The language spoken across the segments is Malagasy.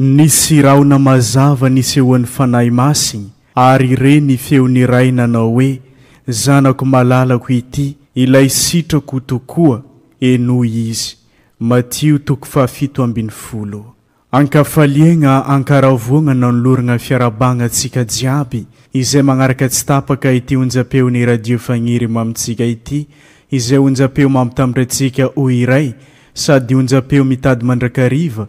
Nisy rahona mazava nisehoan'ny Fanahy Masiny, ary re ny feon'ny Iray nanao hoe, Zanako malalako ity, ilay sitrako tokoa, henoy Izy. Matio toko fahafito ambin'ny folo. An-kafaliagna, an-karavoagna nanoloragna fiarahabagna antsika jiaby izay magnaraka tsy tapaka ity onjam-peon'ny Radio Fagniry mamintsika ity, izay onjam-peo mampitambatra antsika ho iray sady onjam-peo mitady mandrakariva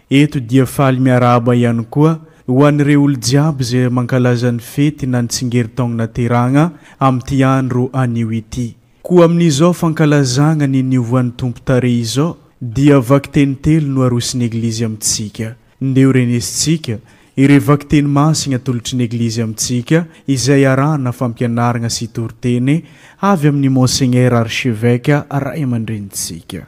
Eto dia faly miarahaba ihany koa ho an'ireo olo-jiaby izay mankalaza ny fety na ny tsingerin-taogno naterahagna amin'ity andro anio ity. Koa amin'izao fankalazagna ny niovoan'ny Tompo tarehy izao dia vakiteny telo no arosin'ny Eglizy amintsika. Ndeo renesintsika ireo vakiteny masigny atolotry ny Eglizy amintsika izay arahana fampianaragna sy toriteny avy amin'ny Monseigneur Archevêque Ray aman-drenintsika.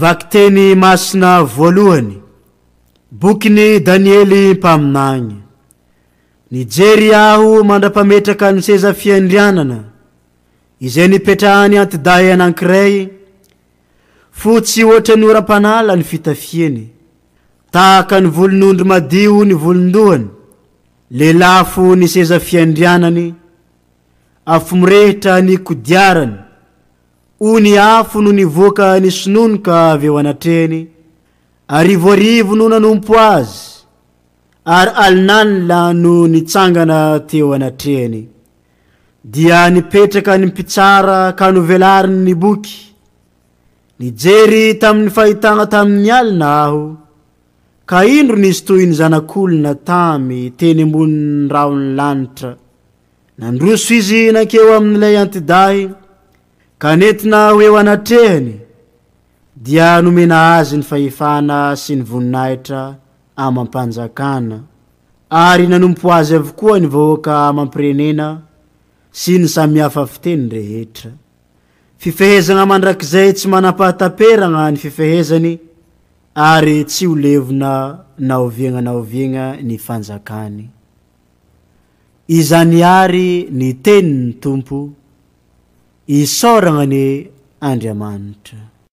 Vakiteny masina voalohany, bokin'i Daniely mpaminany. Nijery aho mandra-pametraka ny seza fiandrianana, izay nipetrahan'ny antidahy anankiray, Fotsy hoatra ny oram-panala ny fitafiany. Tahaka ny volon'ondry madio ny volon-dohany. Lelafo ny seza fiandrianany. Afo mirehitra ny kodiarany. Ony afo no nivoaka nisononoka avy eo anatrehany. Arivoarivo no nanompo azy, ary alinalina no nitsangana teo anatrehany. dia nipetraka ny mpitsara ka novelariny ny boky. Nijery tamin'ny fahitana tamin'ny alina aho, ka indro nisy toy ny zanak'olona tamy teny ambonin'ny rahon'ny lanitra. Nandroso izy nankeo amin'ilay antidahy, ka nentina ho eo anatrehany, dia nomena azy ny fahefana sy ny voninahitra amam-panjakana ary nanompo azy avokoa ny vahoaka amam-pirenena sy ny samihafa fiteny rehetra. Fifehezana mandrakizay tsy manam-pahataperagna ny fifehezany ary tsy ho levona na oviagna na oviagna ny fanjakany. Izany àry ny tenin'ny Tompo, isaoragna anie Andriamanitra.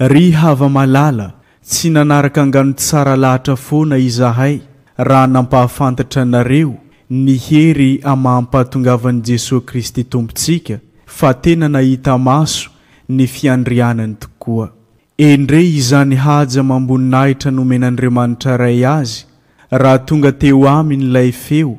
Ry hava-malala, tsy nanaraka angano tsara lahatra foana izahay raha nampahafantatra anareo ny hery amam-pahatongavan'i Jesoa Kristy Tompontsika fa tena nahita maso ny fiandrianany tokoa. Endrey izany haja amam-boninahitra nomen'Andriamanitra Ray Azy Raha tonga teo aminy ilay feo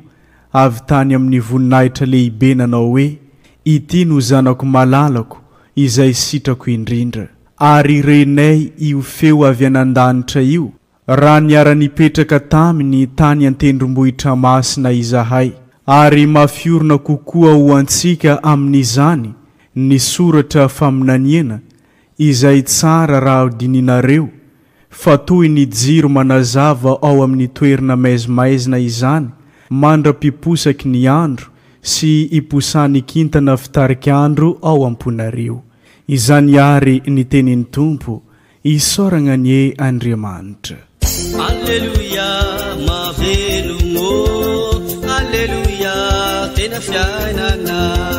avy tany amin'ny voninahitra lehibe nanao hoe, Ity no Zanako malalako, izay sitrako indrindra. Ary renay io feo avy any an-danitra io raha niara-nipetraka taminy tany an-tendrombohitra masina izahay, ary mafiorina kokoa ho antsika amin'izany ny soratra faminaniana izay tsara raha dinihinareo Fa toy ny jiro manazava ao amin'ny toerna maizimaizina izany mandra-piposaky ny andro sy iposahan'ny kintana fitarik'andro ao am-ponareo. Izany àry ny tenin'ny Tompo, Isaoragna anie Andriamanitra! Aleloia mahavelogno ô Aleloia tena fiainagna.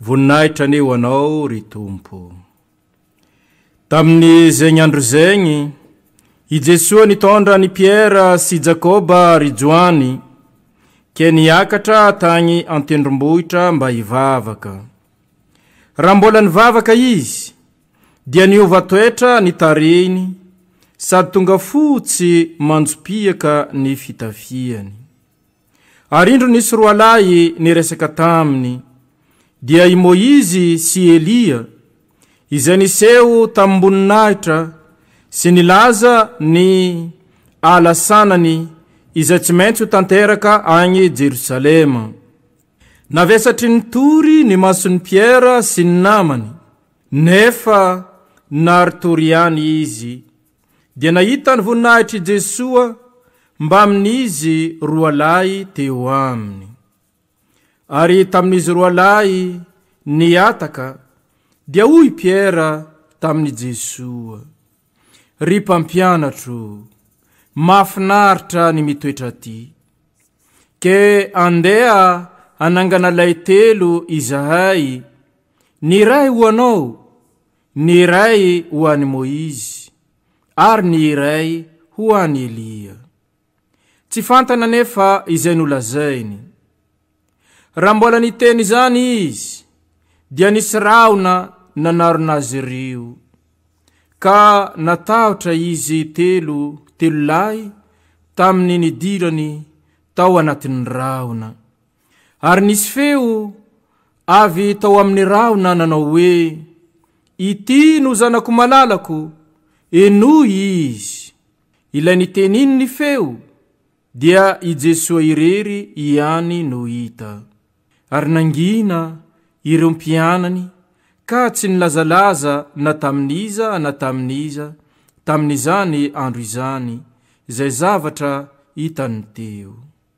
Voninahitra anie ho Anao, ry Tompo. Tamin'ny zegny andro zegny, i Jesoa nitondra an'i Piera sy Jakoba ry Joany, ke niakatra tagny an-tendrombohitra mba hivavaka. Raha mbola nivavaka izy, dia niova toetra ny tarehiny sady tonga fotsy manjopiaka ny fitafiany. Ary indro nisy roalahy niresaka taminy, dia i Moizy sy Elia, izay niseho tamim-boninahitra sy nilaza ny ala sanany izay tsy maintsy ho tanteraka any Jerosalema. Navesatry ny tory ny mason'i Piera sy ny namany, nefa naritory ihany izy. dia nahita ny voninahitr'i Jesoa mbamin'izy roa lahy teo aminy. Ary tamin'izy roa lahy nihataka, dia hoy Piera tamin'i Jesoa, Ry Mpampianatro, mahafinaritra ny mitoetra aty. Ke andeha hanangana lay telo izahay, ny iray ho anao, Ny iray ho an'i Moizy, ary ny iray ho an'i Elia. Tsy fantany anefa izay nolazainy. Raha mbola niteny izany izy, dia nisy rahona nanarona azy ireo, ka natahotra izy telo telo lahy tamin'ny nidirany tao anatin'ny rahona. Ary nisy feo avy tao amin'ny rahona nanao hoe, Ity no zanako malalako, henoy izy. Ilay nitenin' ny feo dia i Jesoa irery ihany no hita. Ary nangina ireo mpianany ka tsy nilazalaza na tamin'iza na tamin'iza tamin'izany andro izany izay zavatra hitany teo.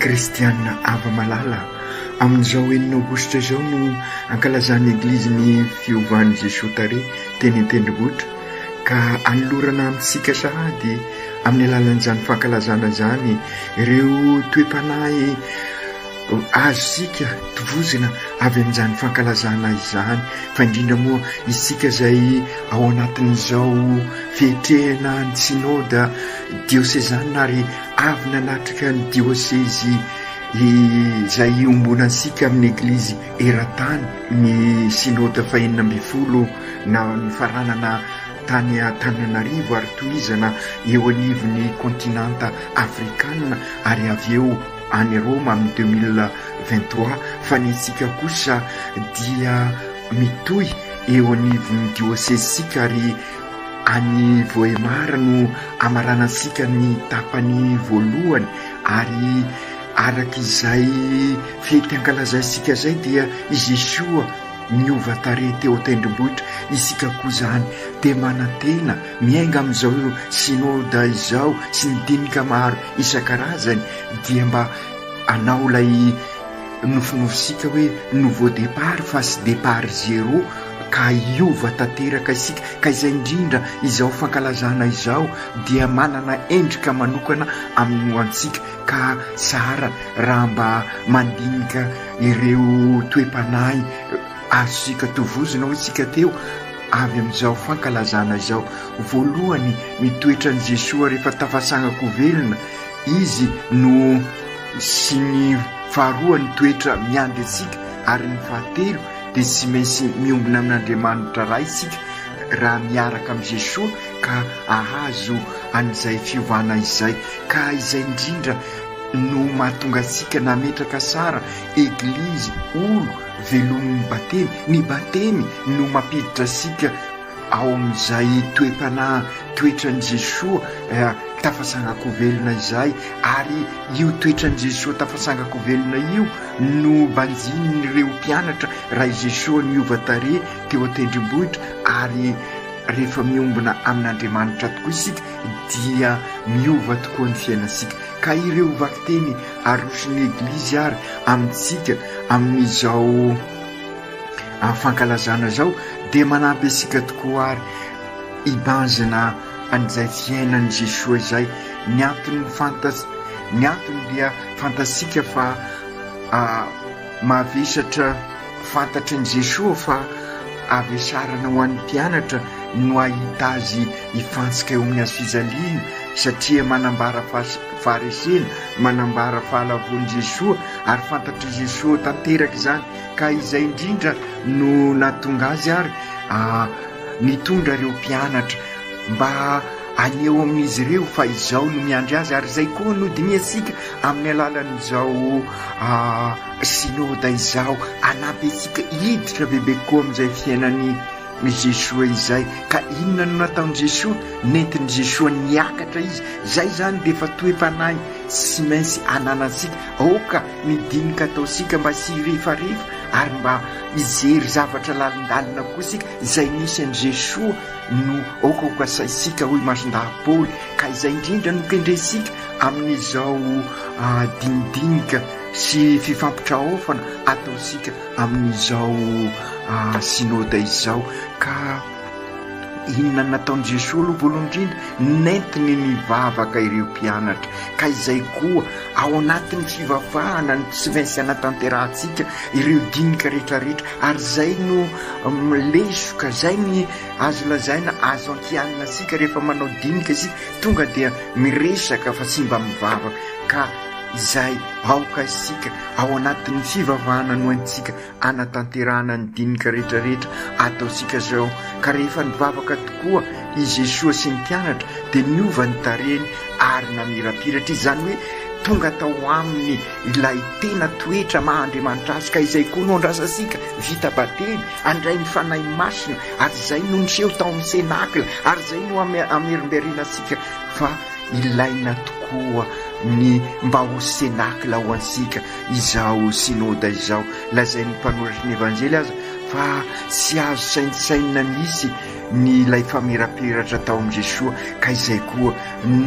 Kristianina ava malala amin'izao enina aogositra izao no ankalazan'ny Eglizy ny fiovan'i Jesoa Tare teny an-tendrombohitra ka anolorana amintsika sahady amin'ny alalan'izany fankalazana izany ireo toe-panahy azontsika tovozina avy amin'izany fankalazana izany fa indrindra moa isika izay ao anatin'izao fiatrehana ny synoda diosezanina ary avy nanatrika ny diosezy izay iombonantsika amin'ny eglizy eran-tany ny Synode fahenina ambin'ny folo nifaranana tany Antananarivo ary tohizana eo anivon'ny Kontinanta Afrikana ary avy eo any Roma amin'ny deux mille vingt trois fa ny antsika kosa dia mitohy eo anivon'ny Diosezintsika ary any Vohemar no amaranantsika ny tapany voalohany ary Araka izay fety ankalazaintsika izay dia i Jesoa niova tarehy teo an-tendrombohitra, isika koa izany dia manantena miainga amin'izao Synode izao sy ny dinika maro isan-karazany dia mba hanao ilay nofinofintsika hoe nouveau départ fa tsy départ zéro ka hiova tanteraka isika ka izay indrindra izao fankalazana izao dia manana endrika manokana amin'ny ho antsika Ka tsara raha mba mandinika ireo toe-panahy azontsika tovozina hoy tsika teo avy amin'izao fankalazana izao. Voalohany, ny toetran'i Jesoa rehefa tafatsangako velona Izy no sy ny faharoa ny toetra miandry antsika ary ny fahatelo dia tsy maintsy miombona amin'Andriamanitra Ray isika raha miaraka amin'i Jesoa ka ahazo an'izay fiovana izay. Ka izay indrindra no mahatonga antsika nametraka sara, eglizy, olo, velomin'ny batemy. Ny batemy no mampiditra antsika ao amin'izay toe-panahy toetran'i Jesoa tafatsangan-kovelona izay, ary io toetran'i Jesoa tafatsangan-kovelona io no banjinin'ireo mpianatra raha i Jesoa niova tarehy teo an-tendrombohitra, ary rehefa miombona amin'Andriamanitra tokoa isika, dia miova tokoa ny fiainantsika, ka ireo vakiteny aroson'ny Eglizy àry amintsika amin'izao fankalazana izao dia manampy antsika tokoa àry hibanjina an'izay fiainan'i Jesoa izay. Ny antony fantatr-, ny antony dia fantatsika fa mahavesatra. Fantatry ny Jesoa fa havesarana ho an'ny mpianatra no hahita azy hifantsika eo amin'ny hazofijaliana satria manambara faharesena, manambara fahalavoan'i Jesoa ary fantatr'i Jesoa tanteraka izany ka izay indrindra no nahatonga azy ary nitondra ireo mpianatra mba haneho amin'izy ireo fa izao no miandry azy ary izay koa no dinihantsika amin'ny alalan'izao Synoda izao hanampy antsika hiditra bebe koa amin'izay fiainan'i Jesoa izay. Ka inona no nataon'i Jesoa? Nentin'i Jesoa niakatra Izy. Izay izany dia efa toe-panahy tsy maintsy ananantsika. Aoka ny dinika ataontsika mba tsy hirefarefa ary mba hijery zavatra lalindalina koa isika. Izay nisy an'i Jesoa no aoka ho kasaintsika, hoy Masondahy Paoly. Ka izay indrindra no kendrentsika amin'izao dinidinika. sy fifampitraofana ataontsika amin'izao Synode izao ka inona nataon'i Jesoa aloha voalohany indrindra? Nentiny nivavaka ireo mpianatra ka izay koa ao anatin'ny fivavahana no tsy maintsy anatanterahantsika ireo dinika rehetra rehetra ary izay no lesoka izay ny azo lazaina azo ankianina antsika rehefa manao dinika isika tonga dia miresaka fa tsy mba mivavaka ka izay aoka isika ao anatin'ny fivavahana no haintsika hanatanterahana ny dinika rehetrarehetra ataontsika izao ka rehefa nivavaka tokoa i Jesoa sy ny mpianatra dia niova ny tarehiny ary namirapiratra izy izany hoe tonga tao aminy ilay tena toetra maha Andriamanitra azy ka izay koa no andrasantsika vita batemy andray ny Fanahy Masina ary izay no niseho tao amin'ny Senakla ary izay no amerimberenantsika fa Ilaina tokoa ny mba ho Cénacle ho antsika izao Synode izao. Lazain'ny mpanoratry ny Evanjely aza fa tsy azo saintsainina mihitsy ny ilay famiraperatra tao amin'i Jesoa ka izay koa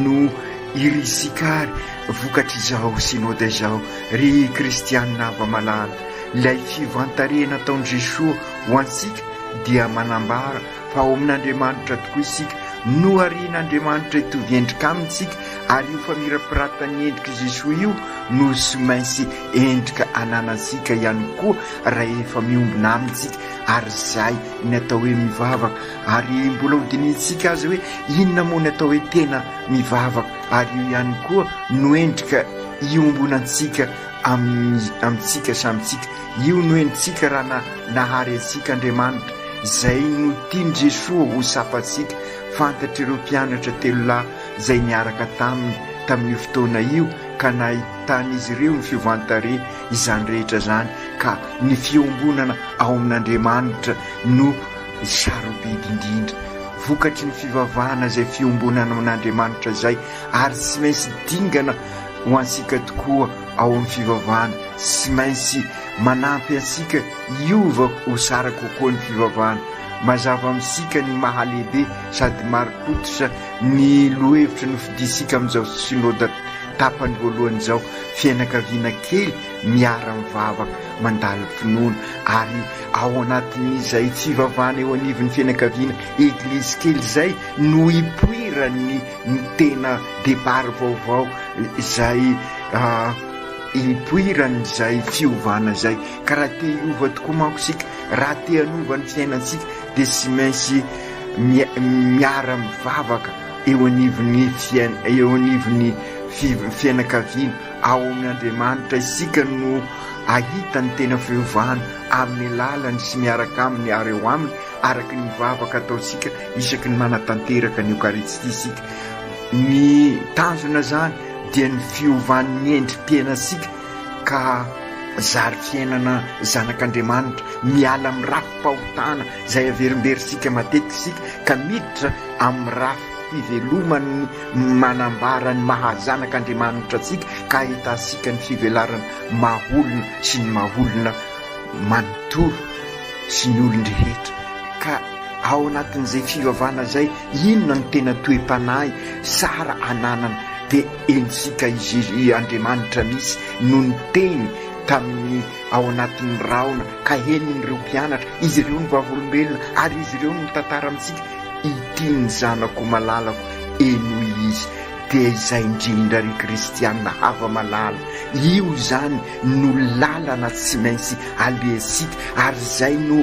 no irisika ary vokatr'izao Synode izao. Ry Kristianina hava-malala, ilay fivantarena nataon'i Jesoa ho antsika dia manambara Fa ao amin'Andriamanitra tokoa isika. Noharian'Andriamanitra hitovy endrika Aminy isika, ary io famirapiratan'ny endrik'i Jesoa io no tsy maintsy endrika ananantsika ihany koa rahefa miombona Aminy isika ary izay ny atao hoe mivavaka. Ary mbola hodinihintsika aza hoe inona moa ny atao hoe tena mivavaka, ary io ihany koa no endrika iombonantsika amintsika samy tsika. Io no henontsika raha na nahary antsika Andriamanitra, izay no tian'i Jesoa ho sapantsika, fantatr'ireo mpianatra telo lahy izay niaraka taminy tamin'io fotoana io ka nahitan'izy ireo ny fiovan-tarehy izany rehetra izany ka ny fiombonana ao amin'Andriamanitra no sarobidy indrindra vokatry ny fivavahana izay fiombonana amin'Andriamanitra izay ary tsy maintsy dingana Ho antsika tokoa ao amin'ny fivavahana, tsy maintsy manampy antsika hiova ho tsara kokoa ny fivavahana. Mazava amintsika ny maha-lehibe sady marim-pototra ny lohahevitra nofidintsika amin'izao Synoda tapany voalohany izao, Fianakaviana kely miara-mivavaka, mandalo finoana. Ary ao anatin'izay fivavahana eo anivon'ny fianakaviana, eglizy kely izay no ipoiran'ny. ny tena depart vaovao izay hipoiran' izay fiovana izay ka raha te hiova tokoa manko isika raha te hanova ny fiainantsika dia tsy maintsy miara mivavaka eo anivon'ny fiain- eo anivon'ny fiv- fianakaviana ao amin' Andriamanitra isika no ahita ny tena fiovana amin'ny lalany sy miaraka aminy ary ao aminy araka ny vavaka ataontsika isaky ny manatanteraka ny Eokaristia isika. Ny tanjona izany dia ny fiovan'ny endri-piainantsika ka zary fiainana zanak'Andriamanitra, miala amin'ny rafi-pahotana izay averimberintsika matetika isika ka miditra amin'ny rafi-piveloman'ny manambara ny maha zanak'Andriamanitra antsika ka ahitantsika ny fivelarana maha olona sy ny maha olona manontolo sy ny olon-drehetra ka ao anatin'izay fivavahana izay inona no tena toe-panahy tsara ananana dia henontsika izy ry Andriamanitra misy no niteny tamin'ny ao anatin'ny rahona ka henon'ireo mpianatra izy ireo ny vavolombelona ary izy ireo no mitantara amintsika ity ny zanako malalako henoy izy dia izay indrindra ry kristianina hava-malala io izany no lalana tsy maintsy alehantsika ary izay no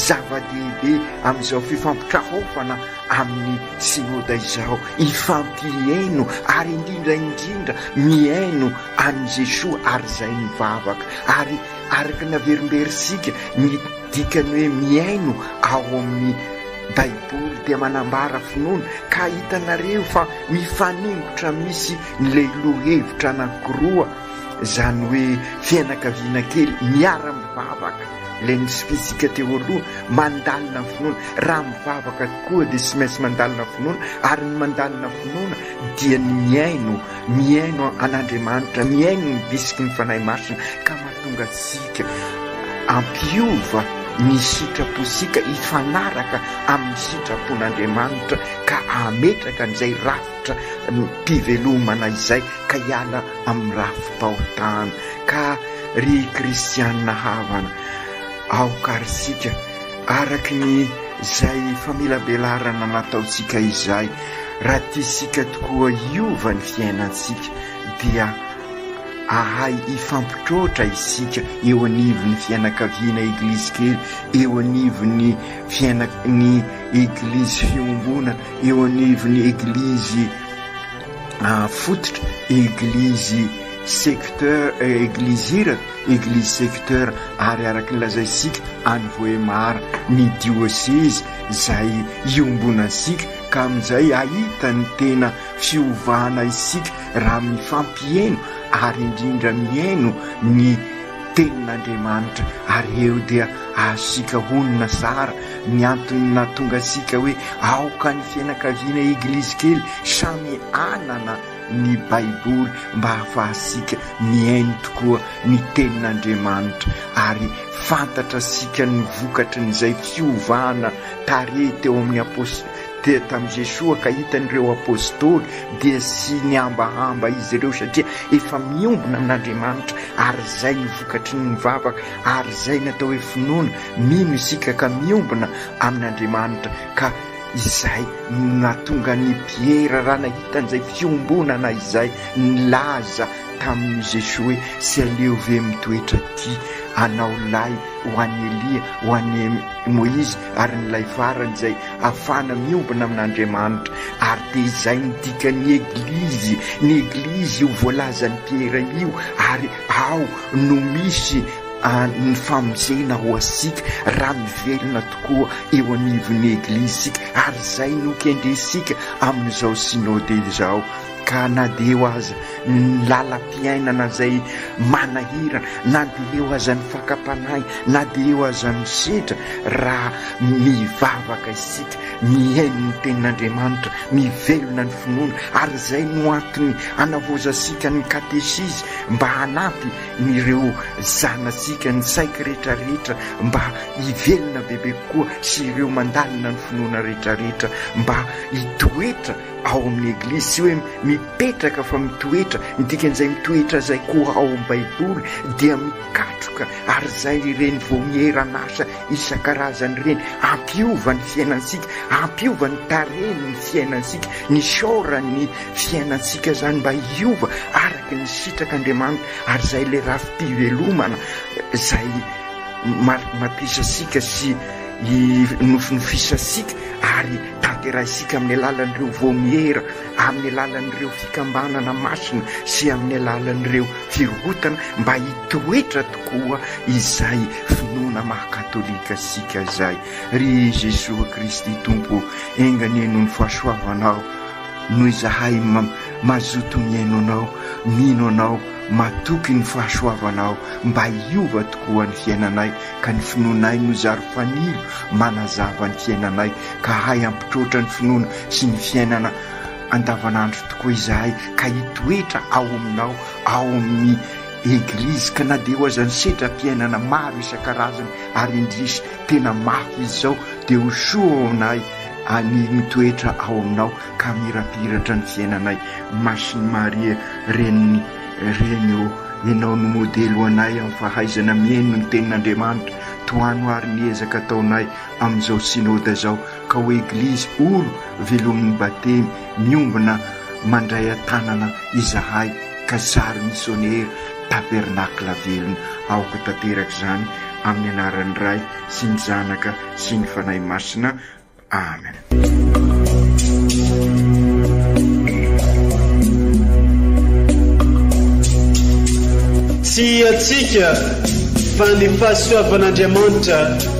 zava-dehibe amin'izao fifampitrahaofana amin'ny synoda izao, hifampiheno ary indrindra indrindra mihaino an'i Jesoa ary izay mivavaka ary araka ny averimberintsika ny dikan'ny hoe mihaino ao amin'ny baiboly dia manambara finoana ka hitanareo fa mifaningotra misy ilay lohahevitra anankiroa Izany hoe fianakaviana kely miara-mivavaka, ilay nosifintsika teo aloha, mandalina ny finoana. Raha mivavaka tokoa dia tsy maintsy mandalina finoana, ary ny mandalina finoana dia ny mihaino, mihaino an'Andriamanitra, mihaino ny bisiky ny Fanahy Masina ka mahatonga antsika hampiova ny sitrapontsika hifanaraka amin'ny sitrapon'Andriamanitra ka hametraka an'izay rafitra. Andriamanitra no mpivelomana izay ka hiala amin'ny rafi-pahotana. Ka ry kristiana havana, aoka ary isika, araka ny izay famelabelarana nataontsika izay, raha tiantsika tokoa hiova ny fiainantsika, dia ahay hifampitroatra isika eo anivon'ny fianakaviana Eglizy kely, eo anivon'ny fiaina, ny Eglizy fiombonana. eo anivon'ny eglizy fototra, eglizy secteur, eglizy iraka, eglizy secteur ary araka ny lazaintsika any Vohemar ny diocèse izay iombonantsika ka amin'izay ahita ny tena fiovana isika raha mifampiheno ary indrindra mihaino ny tenin'Andriamanitra ary eo dia azontsika honina tsara Ny antony nahatonga antsika hoe aoka ny fianakaviana Eglizy kely samy hanana ny Baiboly mba hahafahantsika mihaino tokoa ny Tenin'Andriamanitra ary fantatra antsika ny vokatry ny izay fiovana tarehy teo amin'ny apos dia tamin'i Jesoa ka hitan'ireo Apostoly dia tsy nihambahamba izy ireo satria efa miombona amin'Andriamanitra ary izay no vokatry ny mivavaka ary izay ny atao hoe finoana Mino isika ka miombona amin'Andriamanitra ka izay no nahatonga an'i Piera raha nahita an'izay fiombonana izay nilaza tamin'i Jesoa hoe tsy aleo ve mitoetra aty anao lahy ho an'i Elia, ho an'i Moizy ary ny lay farany izay afahana miombona amin'Andriamanitra ary dia izay no dikan'ny Eglizy, ny Eglizy io voalazan'i Piera io ary ao no misy Any ny famonjena ho asika raha mivelona tokoa eo anivon'ny Eglizy isika ary izay no kendrentsika amin'izao Synode izao ka na dia eo aza ny lalam-piainana izay manahirana, na dia eo aza ny fakam-panahy, na dia eo aza ny sedra, raha mivavaka isika, mihaino ny Tenin'Andriamanitra, mivelona ny finoana ary izay no antony anavozantsika ny Katesizy mba hanampy Ny ireo zanatsika ny saiky rehetra rehetra mba hivelona bebe kokoa sy ireo mandalina ny finoana rehetra rehetra mba hitoetra ao amin'ny eglizy tsy hoe mipetraka fa mitoetra ny dikan'izay mitoetra izay koa ao amin'ny baiboly dia mikatroka ary izay ireny vaomieran'asa isan-karazany ireny ampiova ny fiainantsika ampiova ny tarehin'ny fiainantsika ny saoran'ny Fiainantsika izany mba hiova araka ny sitrak'Andriamanitra ary izay ilay rafi-pivelomana izay matisantsika sy nofinofisantsika ary tanterahintsika amin'ny alalan'ireo vaomiera, amin'ny alalan'ireo fikambanana masina sy amin'ny alalan'ireo firohotana mba hitoetra tokoa izay finoana maha katolika antsika izay. Ry Jesoa Kristy Tompo ô, enga anie noho ny fahasoavanao, Noho izahay mazoto mihaino Anao, mino Anao, matoky ny fahasoavanao mba hiova tokoa ny fiainanay, ka ny finoanay no zary fanilo manazava ny fiainanay, ka hahay hampitroatra ny finoana sy ny fiainana andavanandro tokoa izahay, ka hitoetra ao Aminao, ao amin'ny Eglizy, ka na dia eo aza ny setra-piainana maro isan-karazany, ary indrisy Tena mafy izy zao de ho soa ao aminay ani mitoetra ao aminao ka mirapiratra ny fiainanay Masin'i Maria reniny reny ô enao no modely ho anay am fahaizana mieno ny tenin'Andriamanitra tohano ary ny ezaka ataonay amin'izao synoda zao ka ho eglizy olo velomin'ny batemy Miombona mandray an-tanana izahay ka zary misionera Tabernacle velona. Aoka tanteraka izany amin'ny anaran'ny Ray sy ny Zanaka sy ny Fanahy Masina. Amen. Tsy hiatsika fa ny fahasoavan'Andriamanitra.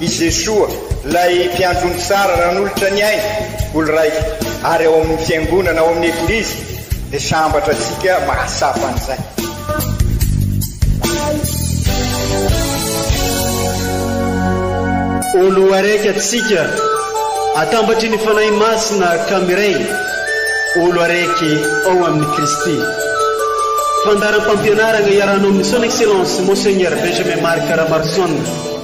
I Jesoa, ilay Mpiandry ony tsara nanolotra ny ainy ho lraika ary ao amin'ny Fiangonana, ao amin'ny Eglizy, dia sambatra antsika mahatsapa an'izay. Ho loharaiky antsika atambatry ny Fanahy Masina ka miray ho loharaiky ao amin'i Kristy. Fandaharam-pampianarana iarahanao amin'ny Son Excellence Monseigneur Benjamin Marc Ramarison.